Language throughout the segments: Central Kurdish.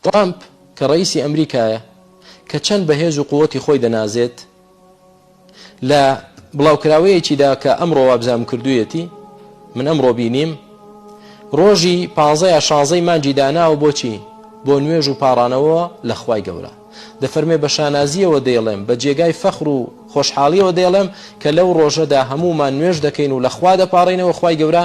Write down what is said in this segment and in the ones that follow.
ترامپ کە ڕەئیسی ئەمریکایە کە چەند بە هێز و قوتی خۆی دەنازێت لە بڵاوکراوەیەکیدا کە ئەمڕۆ وابزام کردوویەتی من ئەمڕۆ بینیم ڕۆژی پازەیە شازەی مانجی داناوە بۆچی بۆ نوێژ و پاڕانەوە لە خوای گەورە دەفەرمێ بە شانازیەوە دەیڵێم بە جێگای فەخر و خۆشحاڵیەوە دەیڵێم کە لەو ڕۆژەدا هەمومان نوێژ دەکەین و لەخوا دەپارڕینەوە خی گەورە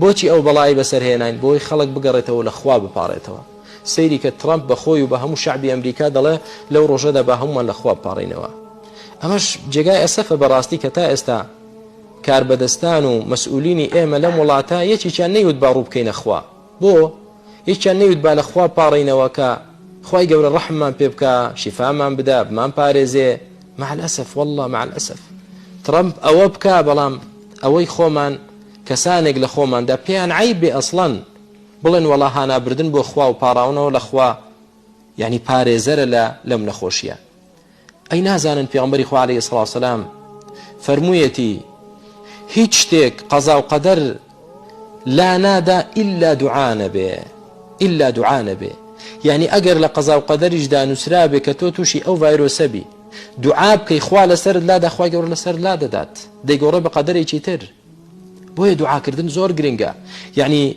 بۆچی ئەو بەڵایەی بەسەر هێناین بۆی خەڵک بگەڕێتەوەو لە خوا بپاڕێتەوە سەیری کە تڕەمپ بە خۆی و بە هەموو شەعبی ئەمریکا دەڵێ لەو ڕۆژەدا با هەموومان لە خوا بپاڕێینەوە ئەمەش جێگای ئەسەفە بەڕاستی کە تا ئێستا کاربەدەستان و مەسئولینی ئێمە لەم وڵاتە یەکێکیان نەیوت با ڕوو بکەینە خوا. بۆ یەکیان نەیوت با لە خوا پاڕێینەوە کە خوای گەورە ڕەحممان پێ بکا شیفامان بدا بمان پارێزێ مع الاسف واللە مع الاسف ترەمپ ئەوە بکا بەڵام ئەوەی خۆمان کەسانێک لە خۆماندا پێیان عیب بێ ئەسڵەن بڵێن وەڵا هانابردن بۆ خوا و پاڕاونەوە لە خوا یعنی پارێزەرە لە لەم نەخۆشیە ئەی نازانن پێغەمبەری خوا علیە سڵاو سلام فەرموویەتی هیچ شتێک قەزا و قەدەر لا نادا ئللا دوعاە بێ ئللا دوعاە بێ یعنی ئەگەر لە قەزا و قەدەریشدا نووسرا بێ کە تۆ تووشی ئەو ڤایرۆسەبی دوعا بکەی خوا لەسەر لا داخوای گەور لەسەر لا دەدات دەیگۆڕێ بە قەدەرێکی تر بۆیە دوعاکردن زۆر گرنگە یعنی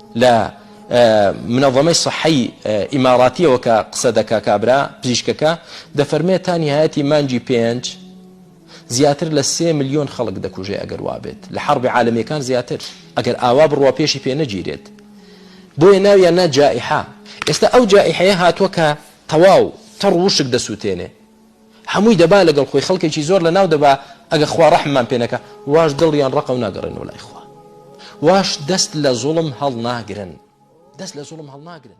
لە منەظەمەی صەحەی ئیماراتیەوە کە قسە دەکا کابرا پزیشکەکە دەفەرمێ تا نیهایەتی مانگی پێنج زیاتر لە سێ ملیۆن خەڵک دەکوژێ ئەگەر وابێت لە حەڕبی عالەمیەکان زیاتر ئەگەر ئاوا بڕوا پێشی پێ نەگیرێت بۆیە ناویان نا جائحە ئێستا ئەو جائحەیە هاتووە کە تەواو تەڕ وشک دەسووتێنێ هەمووی دەبا لەگەڵ خۆی خەڵکێکی زۆر لەناو دەبا ئەگەر خوا ڕەحممان پێ نەکا واش دڵیان ڕەقە و ناگەڕێنەوە لای خوا واش دەست لە زوڵم هەڵناگرن دەست لە زوڵم هەڵناگرن